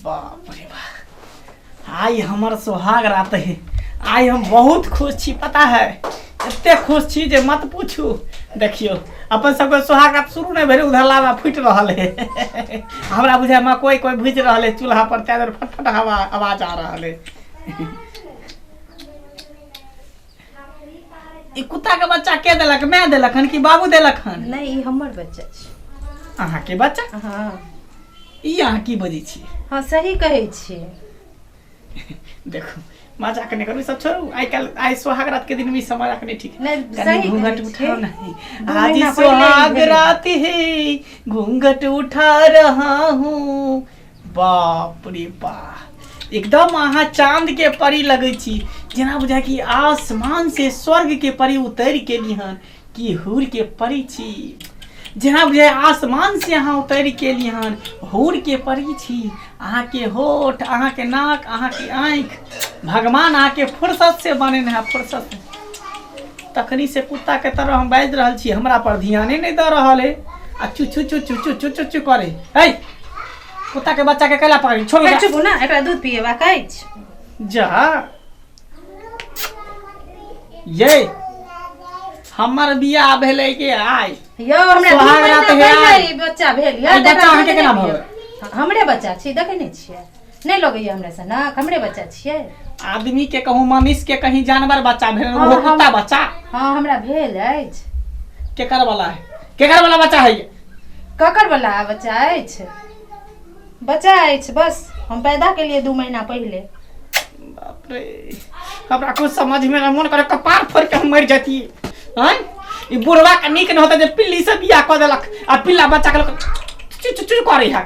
बाप रे बाप आइ हमर सोहाग रात है आइ हम बहुत खुश छी पता है एते खुश छी जे मत पूछू देखियो अपन सबके सोहाग रात शुरू नहीं भेल उधर लावा फूट रहल है हमरा बुझाय में कोई कोई भूज रहल है चूल्हा पर तैदर फटफट हवा आवाज आ रहल है ई कुत्ता के बच्चा के देलक मैं देलक हन कि बाबू देलक हन नहीं ई हमर बच्चा छी अहाँ के बच्चा हाँ ई अहाँ की बजै छी हाँ सही कहै छी देखू मजाक नहि करू ई सब छोड़ू आइ काल्हि आइ सोहाग रात के दिन में ई सब मजाक नहि ठीक नहि, कनी सही घूंघट कहै उठाओ छी। नहीं दू आज महीना पहिले ही सोहाग भेलै। रात है घूंघट उठा रहा हूँ बाप रे बाप एकदम अहाँ चांद के परी लगै छी जेना बुझा कि आसमान से स्वर्ग के परी उतरि के लिहन कि हूर के परी छी जेना बुझाय आसमान से अहाँ उतरि के लिहन हूर के परी छी अहाँके होठ अहाँके नाक अहाँके आँखि भगवान अहाँके फुर्सत से बनेने है फुर्सत से तखनी से कुत्ता के तरह हम बाजि रहल छी हमरा पर ध्याने नहि दऽ रहल है आ चुचु चुचु चुचु चुचु करे है कुत्ता के बच्चा के कैला पकड़ी छोड़ ओकरा चुप ना एकरा दूध पिएबा कहै छी जा ये हमर बियाह भेलै के आइ यौ हमरा दू सोहाग महीना रात है। पहिले ई बच्चा भेल यौ, ई बच्चा तकरा अहाँके दूध केना नहि भऽ पिएब। हमरे बच्चा छी देखै नहि छियै नहि लगैए हमरा सनक हमरे बच्चा छियै आदमीके कहूँ मनुष्यके कहीं जानवर बच्चा भेल हँ, ओहो हम- कुत्ता बच्चा हँ हमरा भेल अछि केकर वाला है केकर वाला बच्चा है ये? ककर वाला बच्चा अछि बच्चा अछि बस हम पैदा केलिए दू महीना पहिले बाप रे हमरा कुछ समझ में ना मन करे कपार फोड़ के हम मर जाती हैं ई बुढ़वा के नीक न होता जे पिल्ली से बियाह क देलक आ पिल्ला बच्चा के लोग चुचु चुचु करे है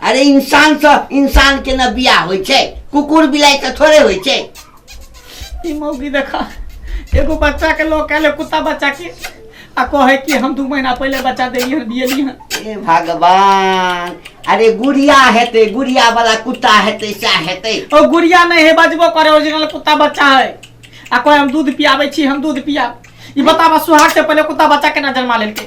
अरे इंसान से इंसान के ना बिया होय छै कुकुर बिलाई से थोड़े होय छै ई मौगी देखा एगो बच्चा के लोग कहले कुत्ता बच्चा के आ कहे कि हम दू महीना पहले बच्चा देली हन बियली हन ए भगवान अरे गुड़िया हेते गुड़िया वाला कुत्ता हेते सा हेते ओ गुड़िया नहीं है बजबो करे ओरिजिनल कुत्ता बच्चा है आ कोई हम दूध पियाबे छी हम दूध पिया ई बताबा सुहाग से पहले कुत्ता बच्चा केना जन्मा लेलके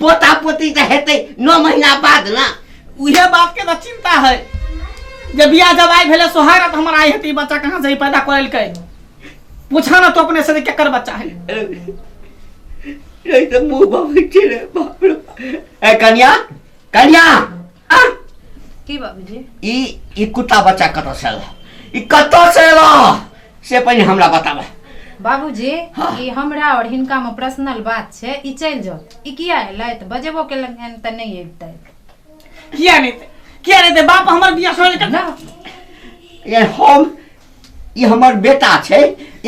पोता पोती जे हेतै नओ महीना बाद ने उहे बातके तऽ चिन्ता है जे बियाह जब आइ भेलै सोहागत हमर आइ हेतै ई बच्चा कहाँ से ई पैदा करेलकै पूछा ना तो अपने से जे केकर बच्चा है रे तऽ मुँह बबै छै रे बाप रे ए कन्या कन्या की बाबूजी ई ई कुत्ता बच्चा कतऽ से अयलह ई कतऽ से अयलह से पहिने हमरा बताबह बाबूजी हाँ। ई हमरा और हिनका में पर्सनल बात छै ई चल जाओ ई किया एलै तऽ बजेबो केलन हन तऽ नहीं एतै किया नहीं थे किया नहीं थे बाप हमर बिया सोने ना ये हम ई हमर बेटा छै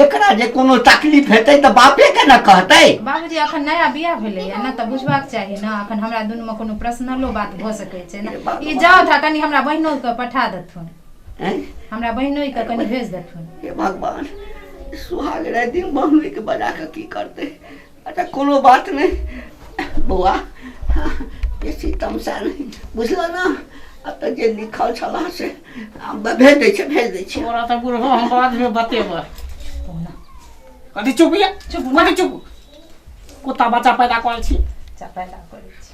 एकरा जे कोनो तकलीफ हेतै तऽ बापे के ने कहतै बाबूजी अखन नया बियाह भेलैया ने तऽ बुझबाक चाही ने अखन हमरा दुनू में कोनो पर्सनलो बात भऽ सकै छै ने ई जाओ था कनि हमरा बहिनो के पठा देथुन हैं? हमरा बहिनो के कनि भेज देथुन हे भगवान सुहाग राति दिन बहनोइके बजा कऽ की करतै अच्छा कोनो बात नहि बौआ बेसी तमसा नहि बुझलऽ ने एतऽ जे लिखल छलह से हम भेज दै छियै भेज दै छियै तोरा तऽ बुढ़ो हम बादमे बतेबै कथी चुप यऽ चुप कथी चुप कुत्ता बच्चा पैदा करै छी बच्चा पैदा करै छी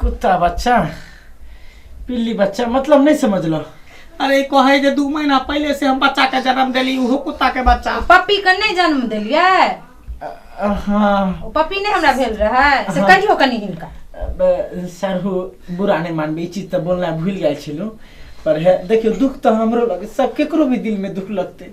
कुत्ता बच्चा पिल्ली बच्चा मतलब नहीं समझ लो अरे कहे जे दू महीना पहले से हम बच्चा के जन्म देली उहो कुत्ता के बच्चा पप्पी के नहीं जन्म दिलिए हाँ ओ पप्पी नहीं हमरा भेल रहे से हाँ। कहियो कनी हिनका अब सरहु बुरा नहीं मानबे ई चीज तो बोलना भूल गए छलू पर है देखियो दुख तो हमरो लगे सब केकरो भी दिल में दुख लगते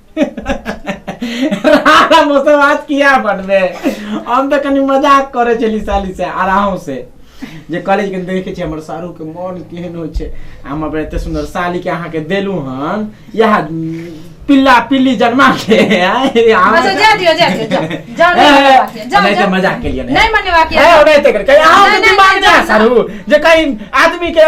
राणा मौसम आज किया बनबे हम तऽ कनि मजाक करै छली साली से आराम से जे कॉलेज के देखे छियै हमर सारू के मन केहन होइ छै आ हम अपन एते सुंदर साली के अहाँ के देलू हन यह पिल्ला पिल्ली जन्मा के आय, अहाँ अच्छा के- जा दियो जा दियो जाओ जाओ ए, नहीं ए, मने बाकी है, जाओ नहीं जाओ। तो मजाक के लिए नहीं मने बाकी है। ए, नहीं तो कर कहीं अहाँ नहीं, के नहीं, दिमाग नहीं, जा नहीं, सारू जे कहीं आदमी के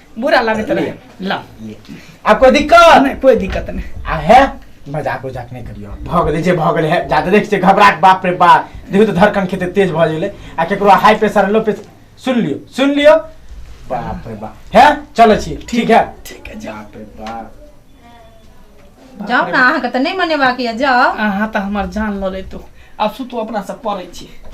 बुरा लागत रहे ले। ला ले। आ कोई दिक्कत नहीं कोई दिक्कत नहीं आ है मजाक उजाक नहीं करियो भऽ गेलै जे भऽ गेलै है जादे देख छै घबराहट बाप रे बाप देखियो तऽ धड़कन खेते तेज भऽ गेलै आ केकरो हाई प्रेशर लो प्रेशर सुन लियो सुन लियो बाप रे बाप है चलै छी ठीक है ठीक है जाओ बाप रे बाप जाओ ना अहाँ के तो नहीं मने बाकी है जाओ अहाँ तऽ हमर जान लऽ लेतौ आब सुतू अपना सब पड़ै छी